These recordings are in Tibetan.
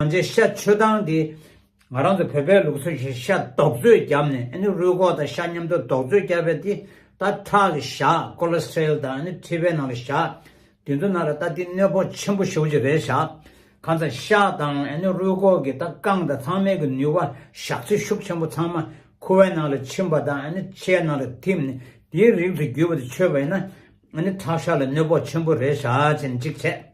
ང་ཚོའི་ཤ་མཆོད་སྟངས་དེ། ང་རང་ཚོ་བོད་པའི་ལུགས་སྲོལ་བཞིན་ཤ་རྡོག་བརྫོས་བརྒྱབ་ནས་ཨ་ནི་རུས་ཁོག་དང་ཤ་མཉམ་དུ་རྡོག་བརྫོས་བརྒྱབ་པའི་དེ་ད་ཁྲག་ལ་བཞག Cholesterol དང་ཨ་ནི་མཁྲིས་པའི་ནང་ལ་བཞག་དེ་ཚོ་ན་ར་ད་དེ་གནོད་ཕོག་ཆེན་པོ་ཞུགས་ཀྱི་རེད་བཞག་ཁང་ཚ་ཤ་དང་ཨ་ནི་རུས་ཁོག་གི་ད་རྐང་དང་ཚང་མའི་གི་ནུས་བ་བཞག་ཚེ་ཤུགས་ཆེན་པོ་ཚང་མ་ཁུ་བའི་ནང་ལ་ཕྱིན་པ་དང་ཨ་ནི་ཤའི་ནང་ལ་ཐིམ་ནས་དེའི་རིགས་དུ་གྱུར་པ་དེ་མཆོད་པ་ཡིན་ན་ཨ་ནི་ཁྲག་ཤ་ལ་གནོད་ཕོག་ཆེན་པོ་རེད་བཞག་ཅེས་ནས་གཅིག་བྱས།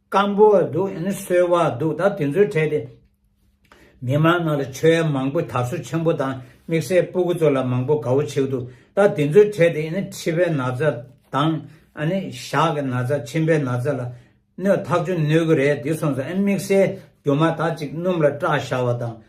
སྐམ་པོ་བ་འདུག་ཡང་ན་སོལ་བ་འདུག་ད་དེ་ཚོའི་གྲས་དེ། མི་དམངས་ནང་ལ་ཆོལ་ཡ་མང་པོས་དར་སོ་ཆེན་པོ་དང་དམིགས་བསལ་སྤུ་གུ་ཚོ་ལ་མང་པོ་དགའ་བོ་བྱེད་འདུག་ད་དེ་ཚོའི་གྲས་དེ་ཡང་ན་ཁྲི་པའི་ན་ཚ་དང། ཨ་ནི་ཞག་གི་ན་ཚ་མཆིན་པའི་ན་ཚ་ལ། གནོད་ཐག་ཆོད་གནོད་གི་རེད་དེ་སོང་ཙང་ཨ་དམིགས་བསལ་རྒྱུ་མ་དག་ཅིག་སྣུམ་ལ་སྐྲག་བཞག་བ་དང་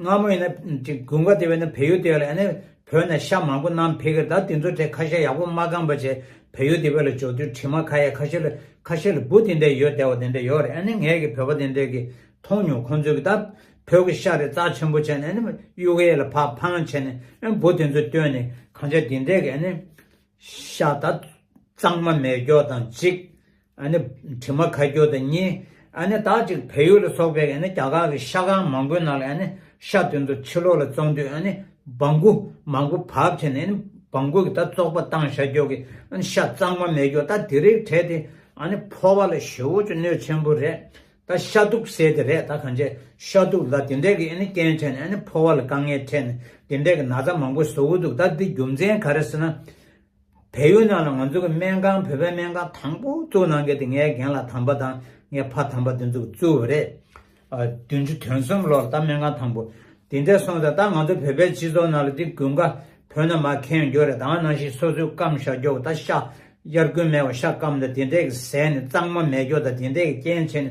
སྔ་མོ་ཡིན་ན་དགུན་ཁ་དེ་བས་ན་བལ་ཡུལ་དེ་བས་ལ་ཡིན་ན་བོད་ནས་ཤ་མང་པོ་ནམ་ཕེ་གི་ད་དེ་ཚོ་ཁྲེ་ཁ་ཤ་ཡག་པོ་མ་གང་པ་བྱས་བལ་ཡུལ་དེ་བས་ལ་འཇོག་དུས་དྲི་མ་ཁ་ཡ་ཁ་ཤ་ལ་ཁ་ཤ་ལ་བུ་དེ་འདྲ་ཡོད་དེ་བ་དེ་འདྲ་ཡོད་རེད་ཨ་ནི་ངས་ཀྱི་བོད་པ་དེ་འདྲས་ཀྱི་མཐོང་མྱོང་ཁོང་ཚོས་ཀྱི་ད་བོད་ཀྱི་ཤ་རེ་རྩ་ཆེན་པོ་བྱས་ནས་ཨ་ནི་གཡུག་གཡས་ལ་ཕ་ཕང་བྱས་ནས་ཨ་བུ་དེ་ཚོས་བཏོན་ནས་གང་བྱས་དེ་འདྲས་ཀྱི་ཨ་ནི་ཤ་ད་གཙང་མ་མེད་སྐྱོ་དང་གཅིག་ཨ་ནི་དྲི་མ་ཁ་སྐྱོ་དང་གཉིས། ཨ་ནི་དག་ཅིག་བལ་ཡུལ་ལ་སོགས་པའི་ཨ་ནི་རྒྱ་གར་གྱི་ཤ་ཁང་མང་པོའི་ནང་ལ་ཨ་ནི་ཤ་དོན་དུ་ཕྱི་ལོགས་ལ་བཙོང་དུས་ཨ་ནི་སྦང་གུ་མང་པོ་བབས་བྱས་ནས་ཨ་ནི་སྦང་གུ་གི་ད་བཙོག་པ་བཏང་ཤ་སྐྱོ་གི་ཨ་ནི་ཤ་གཙང་མ་མེད་སྐྱོ་ད་དེ་རིགས་བྲད་དེ་ཨ་ནི་ཕོ་བ་ལ་ཞེ་བོ་ཅུ་གནོད་ཆེན་པོ་རེད་ད་ཤ་དུག་བསལ་དེ་རེད་ད་གང་ཆེ་ཤ་དུག་ལ་དེ་འད་གི་ཨ་ནི་རྐྱེན་བྲད་ནས་ཨ་ནི་ཕོ་བ་ལ་དཀའ་ངལ་འཕྲད་ནས་དེ་འད་གི་ན་ཚ་མང་པོ་བཟོ་གི་འདུག་ད་འདི་རྒྱུ་མཚན་ག་རེ་ཟེར་ན། བལ་ཡུལ་ནང་ལ་ང་ཚོ་གི་སྨན་ཁང་བོད་པའི་སྨན་ཁང་དང་པོ་བཙུགས་གནང་མཁན་དེ་ངའི་རྒན་ལགས་དམ་པ་དང་ངའི་ཕ་དམ་པ་དེ་ཚོ་བཙུགས་པ་རེད། བདུན་ཅུ་དོན་གསུམ་ལོར་ད་སྨན་ཁང་དང་པོ་དེ་འདྲས་སོང་ཟེར་ད་ང་ཚོ་བོད་པའི་སྤྱི་ཚོགས་ནང་ལ་དེ་དགུན་ཁ་བོད་ན་མ་ཁེངས་རྒྱུ་རེད་དང་ནང་བཞིན་སོ་སོའི་སྐམ་བཞག་རྒྱོ་གི་ད་ཤ་དབྱར་དགུན་མེ་བ་ཤ་སྐམ་ད་དེ་འདྲས་ཀི་བཟས་ནས་གཙང་མ་མེད་རྒྱོ་ད་དེ་འདྲས་ཀི་རྐྱེན་བྱས་ནས་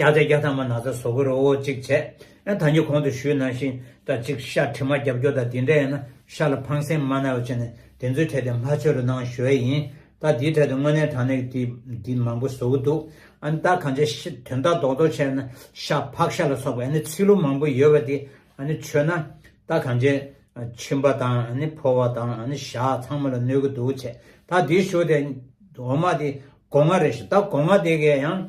རྒྱ་བཟའ་རྒྱ་ཐང་མ་ན་ཚ་བཟོ་གི་རོ་འོ་གཅིག་བྱས་ཨེ་ད་ཉི་གོང་དུ་ཞུས་ནང་བཞིན་ད་གཅིག་ཤ་དྲི་མ་རྒྱབ་སྐྱོ་ད་དེ་འདྲ་ཡིན་ན་ཤ་ལ་ཕངས་སེམས་མ་ན་བ་བྱས་ནས་དེ་ཚོའི་གྲས་དེ་མ་ཆོས་རུ་ནང་ཞོལ་ཡིན་ད་དེའི་གྲས་དུ་དངོས་གནས་དྲང་གནས་ཀྱི་དེ་མང་པོ་བཟོ་གི་འདུག་ཨན་ད་གང་ཆ་ཤ་དོན་དག་རྡོག་རྡོག་བྱས་ན་ཤ་ཕག་ཤ་ལ་སོགས་པའི་ཨནི་ཚིག་ལུགས་མང་པོ་ཡོད་བ་དེ་ཨནི་ཆོས་ན་ད་གང་ཆ་མཆིན་པ་དང་ཨནི་ཕོ་བ་དང་ཨནི་ཤ་ཚང་མ་ལ་གནོད་གི་འདུག་བྱས་ད་དེ་ཞུས་ཏེ་འོ་མ་དེ་གོ་ང་རེད་ཤི་ད་གོ་ང་དེ་གས་ཡང།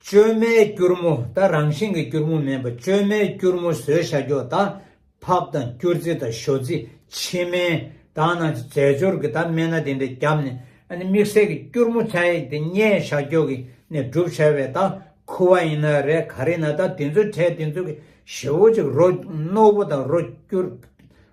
བཅོས་མའི་སྐྱུར་མོ་དང་རང་བཞིན་གྱི་སྐྱུར་མོ་མིན་པ་བཅོས་མའི་སྐྱུར་མོ་ཟོས་ཤ་འཁྱོག་དང། ཕབ་དང་སྐྱུར་རྩི་དང་ཞོ་རྩི་ཕྱི་སྨན་དང་ནང་རྩི་རྫས་སྦྱོར་གྱི་དག་སྨན་སྣ་དེ་འདྲ་བརྒྱབ་ནས་དམིགས་བསལ་གྱི་སྐྱུར་མོ་ཚན་ཡིག་དེ་སྙན་ཤ་འཁྱོག་གི་ནས་བསྒྲུབ་བྱ་བའི་དག་ཁུ་བ་ཡིན་ན་རེད་ག་རེ་ན་དག་དེ་ཚོའི་གྲས་དེ་ཚོ་གི་ཞེ་བོ་གཅིག་རོ་རྣོ་པོ་དང་རོ་སྐྱུར།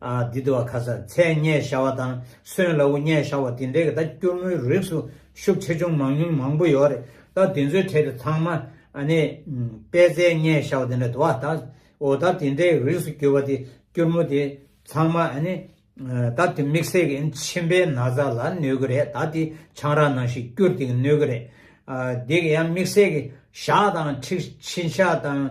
འདི་དུ་བ་ཁ་ཟ་ཚད་བརྙས་ཤ་བ་དང་སོན་ལ་བུ་བརྙས་ཤ་བ་དེ་འདྲའི་གི་ད་སྐྱུར་མོའི་རིགས་སུ་ཤུགས་ཆེ་ཆུང་མང་ཉུང་མང་པོ་ཡོད་རེད་ད་དེ་ཚོའི་གྲས་དུ་ཚང་མ་ནི་པད་ཚལ་བརྙས་ཤ་བ་དེ་འདྲ་དུ་བ་དག་འོ་ད་དེ་འདྲའི་རིགས་སུ་གྱུར་བ་དེ་སྐྱུར་མོ་དེ་ཚང་མ་ནི་ད་དེ་མིག་སེར་གི་མཆིན་པའི་ན་བཟའ་ལ་གནོད་གི་རེད་ད་དེ་ཆང་རག་ནང་བཞིན་སྐྱུར་དེ་གི་གནོད་གི་རེད་དེ་གི་ཡང་མིག་སེར་གི་ཤ་དང་མཁྲིག་མཆིན་ཤ་དང།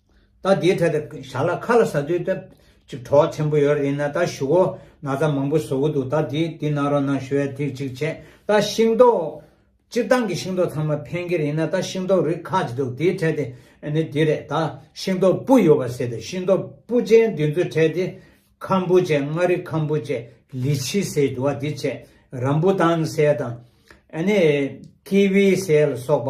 ད་དེའི་གྲལ་དུ་བཞག་ལ་ཁ་ལ་ཟ་དུས་ད་ཅིག་གྲོགས་ཆེན་པོ་ཡོད་རེད་ཡིན་ན་ད་ཞུ་བོ་ན་ཚ་མང་པོ་བཟོ་གི་འདུག་ད་དེ་དེ་གནང་རོགས་གནང་ཞུ་བས་དེ་ཅིག་བྱས་ད་ཤིང་ཏོག་སྤྱིར་བཏང་གི་ཤིང་ཏོག་ཚང་མ་ཕན་གི་རེད་ཡིན་ན་ད་ཤིང་ཏོག་རིགས་ཁ་ཅིག་འདུག་དེའི་གྲལ་དེ་ནི་དེ་རེད་ད་ཤིང་ཏོག་སྤུ་ཡོད་པ་ཟེར་དུས་ཤིང་ཏོག་སྤུ་ཅན་དེ་ཚོའི་གྲལ་དེ་ཁམ་བུ་ཅན་མངའ་རིས་ཁམ་བུ་ཅན་ལི་ཆི་ཟེར་གི་འདུག་དེ་བྱས་རམ་བུ་ཏང་སེལ་དང་ཨ་ནི་ཀི་བི་སེལ་སོགས་པ་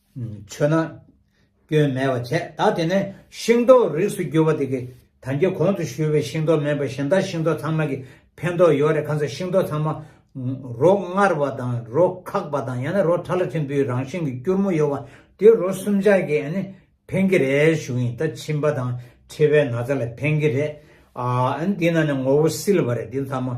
ཆོས་ནང་སྐྱོན་མེད་པར་བྱས་ད་དེ་ནས་ཤིང་ཏོག་རིགས་སུ་གྱུར་པ་དེ་གི་ད་རྒྱ་གོང་དུ་བཞུར་བའི་ཤིང་ཏོག་མེད་པར་ཞིང་དང་ཤིང་ཏོག་ཚང་མ་གི་ཕན་ཐོག་ཡོད་རེད་ཁ་ཚ་ཤིང་ཏོག་ཚང་མ་རོ་མངར་བ་དང་རོ་ཁག་པ་དང་ཡང་ན་རོ་ཁྲ་ལ་ཐིམ་པོའི་རང་བཞིན་གི་སྐྱུར་མོ་ཡོད་བ་དེ་རོ་སུམ་ཆ་གི་ཕན་གི་རེད་ཞུ་གིན་ད་མཆིན་པ་དང་མཁྲིས་པའི་ན་ཚ་ལ་ཕན་གི་རེད་ཨ་འདི་ནང་ནས་ངོ་བོ་སིལ་བ་རེད་འདི་ཚང་མ།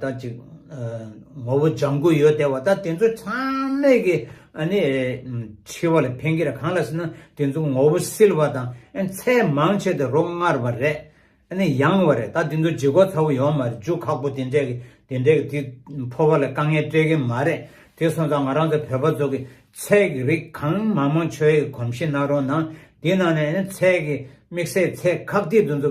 ད་ཅིག། ངོ་བོ་ལྗང་གུ་ཡོད་དེ་བ་ད་དེ་ཚོ་ཚང་མས་ཀྱི་ནི། འཆི་བ་ལ་ཕན་གྱི་ར་གང་ལ་ཟེར་ན་དེ་ཚོ་ངོ་བོ་སིལ་བ་དང་ཚད་མང་ཆེ་སྟེ་རོ་མངར་བ་རེད། ནི་ཡང་བ་རེད་ད་དེ་ཚོ་འཇིག་གོ་ཚ་བོ་ཡོང་མ་རེད་རྒྱུ་ཁག་པོ་དེ་འདྲས་ཀྱི་དེ་འདྲས་ཀྱི་དེ་ཕོ་བ་ལ་དཀའ་ངལ་སྤྲད་ཀྱི་མ་རེད་དེ་སོང་ཙང་ང་རང་ཚོ་བོད་པ་ཚོ་གི་ཚད་ཀྱི་རིགས་གང་མང་མང་ཆོས་ཀྱི་གོམས་གཤིས་ནང་རོ་ནང་དེ་ནང་ནས་ནི་ཚད་ཀྱི་དམིགས་བསལ་ཚད་ཁག་དེ་དེ་ཚོ་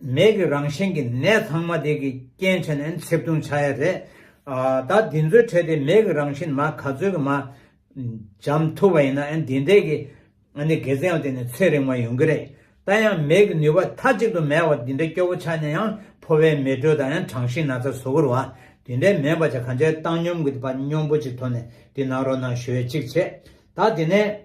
མེད་ཀྱི་རང་བཞིན་གྱི་ནད་ཚང་མ་དེ་གི་རྐྱེན་བྱས་ནས་འཚེབ་བརྡུང་བྱ་ཡ་རེད། ད་འདི་ཚོའི་ཁྲོད་དེ་མེད་ཀྱི་རང་བཞིན་མ་ག་ཚོད་ཀྱི་མ་འཇམ་ཐུབ་པ་ཡིན་ན་ཡང་འདི་འདྲའི་གི་འགལ་རྩའི་ཡང་དེ་ནི་ཚེ་རིང་བ་ཡོང་གི་རེད། ད་ཡང་མེད་ཀྱི་ནུས་པ་མཐའ་གཅིག་ཏུ་མེད་བ་འདི་འདྲའི་སྐྱོ་བོ་ཆགས་ནས་ཡང་ཕོ་བའི་མེ་དྲོད་དང་ཡང་གྲང་ཤིང་ན་ཚ་ཟོ་གུར་བ་འདི་འདྲའི་མེད་པ་ཆ་ག་འདྲའི་བཏང་སྙོམས་གྱི་པ་སྙོམས་པོ་ཅིག་ཐོག་ནས་འདི་ནང་རོ་ནང་ཞོད་ཅིག་བྱེད། ད་འདི་ནས།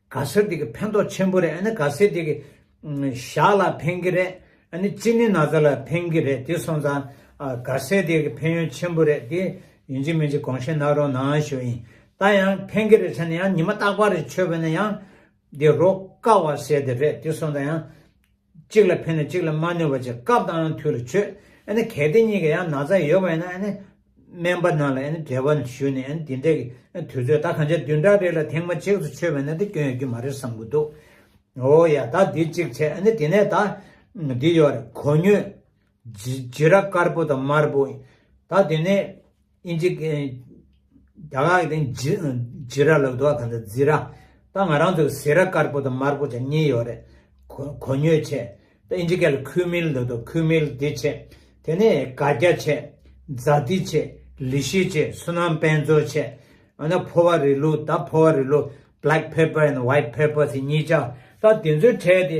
ག་སེར་དེ་གི་ཕན་ཐོག་ཆེན་པོ་རེད་ཨ་ནི་ག་སེར་དེ་གི་ཞག་ལ་ཕན་གི་རེད་ཨ་ནི་ཙི་ནི་ན་ཚ་ལ་ཕན་གི་རེད་དེ་སོང་ཙང་ག་སེར་དེ་གི་ཕན་ཡོན་ཆེན་པོ་རེད་དེ་ཡིན་གཅིག་མིན་གཅིག་གོང་བཤད་གནང་རོགས་གནང་ཞུ་ཡིན་ད་ཡང་ཕན་གི་རེད་ཟེར་ནས་ཡང་ཉི་མ་རྟག་པར་རེད་ཆོས་པ་ནས་ཡང་དེ་རོགས་དཀའ་བ་བྱས་དེ་རེད་དེ་སོང་ཙང་ཡང། གཅིག་ལ་ཕན་ནས་གཅིག་ལ་མ་གནོད་པ་བཅས་སྐབས་དང་དུས་ལ་བྱོས། གལ་ཏེ་གཉིས་ཀ་ཡང་ན་ཚ་ཡོད་པ་ཡིན་ན། སྨན་པ་རྣམས་ལ་འབྲེལ་བ་ཞུས་ནས་དེ་འབྲེལ་གྱི་དུས་ཚོད་ད་གང་ཆ་བདུན་ཕྲག་རེ་ལ་ཐེངས་མ་གཅིག་ཏུ་བྱོས་པས་ན་དེ་སྐྱོན་ཡོད་ཀྱི་མ་རེད་བསམ་གྱི་འདུག་ཨོ་ཡ་ད་འདི་གཅིག་བྱས་དེ་ནས་ད་འདི་ཡོད་རེད་གོ་ཉོས། བྱི་ར་དཀར་པོ་དང་དམར་པོ། ད་དེ་ནས་ཨིན་ཇི། རྒྱ་དག་གི་སྟེང་བྱི་ར་ལབ་དོག་དང་འདྲ་བྱི་ར། ད་ང་རང་ཚོ་བྱི་ར་དཀར་པོ་དང་དམར་པོ་ཆ་གཉིས་ཡོད་རེད། གོ་ཉོས་ཆེ། ད་ཨིན་ཇི་སྐད་ལ་ཁུལ་མིལ་འདུག་དོ་ཁུལ་མིལ་དེ་ཆེ། དེ་ནས་ག་རྒྱ་ཆེ། རྫ་ཏི་ཆེ། ལི་ཤི་ཆེ་སུ་ནང་དཔལ་མཚོ་ཆེ། ཨ་ན་ཕོ་བ་རི་ལུ་ད་ཕོ་བ་རི་ལུ། Black pepper and White pepper། དེ་གཉིས་ཆ། ད་དེ་ཚོའི་གྲས་དེ་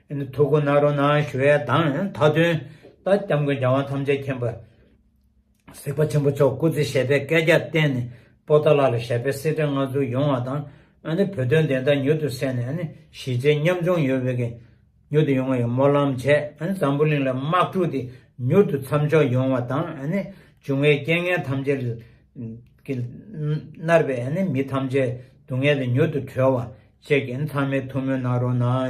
ཐུགས་ཀུན་ནཱ་རོ་ནཱ་ཞུ་བའི་གདངས་མཐའ་དོན། རྟ་སྐྱབས་མགོན་རྒྱལ་དབང་ཐམས་ཅད་མཁྱེན་པ། གཟིགས་པ་ཆེན་པོ་མཆོག་སྐུ་ཚེ་ཞལ་དཔེ་བསྐལ་བརྒྱར་བསྟན་ནས་པོ་ཏཱ་ལ་ལ་ཞལ་དཔེ་གསེར་ཕྲེང་མངའ་ཚུལ་ཡོང་བ་དང། བོད་དོན་བདེན་མཐའ་མྱུར་དུ་གསལ་ནས་གཞིས་བྱེས་མཉམ་ཆུང་ཡོད་པའི་དགེ། མྱུར་དུ་ཡོང་བའི་སྨོན་ལམ་བྱས། འཛམ་བུ་གླིང་ལ་དམག་འཁྲུག་དེ་མྱུར་དུ་མཚམས་འཇོག་ཡོང་བ་དང། འབྱུང་བའི་རྐྱེན་ངན་ཐམས་ཅད་ཀྱིས་མནར་བའི་མི་ཐམས་ཅད་སྡུག་བསྔལ་དེ་མྱུར་དུ་གྲོལ་བ་བཅས་ཀྱི་ཚང་མའི་ཐུགས་སྨོན་ནཱ་རོ་ནཱ།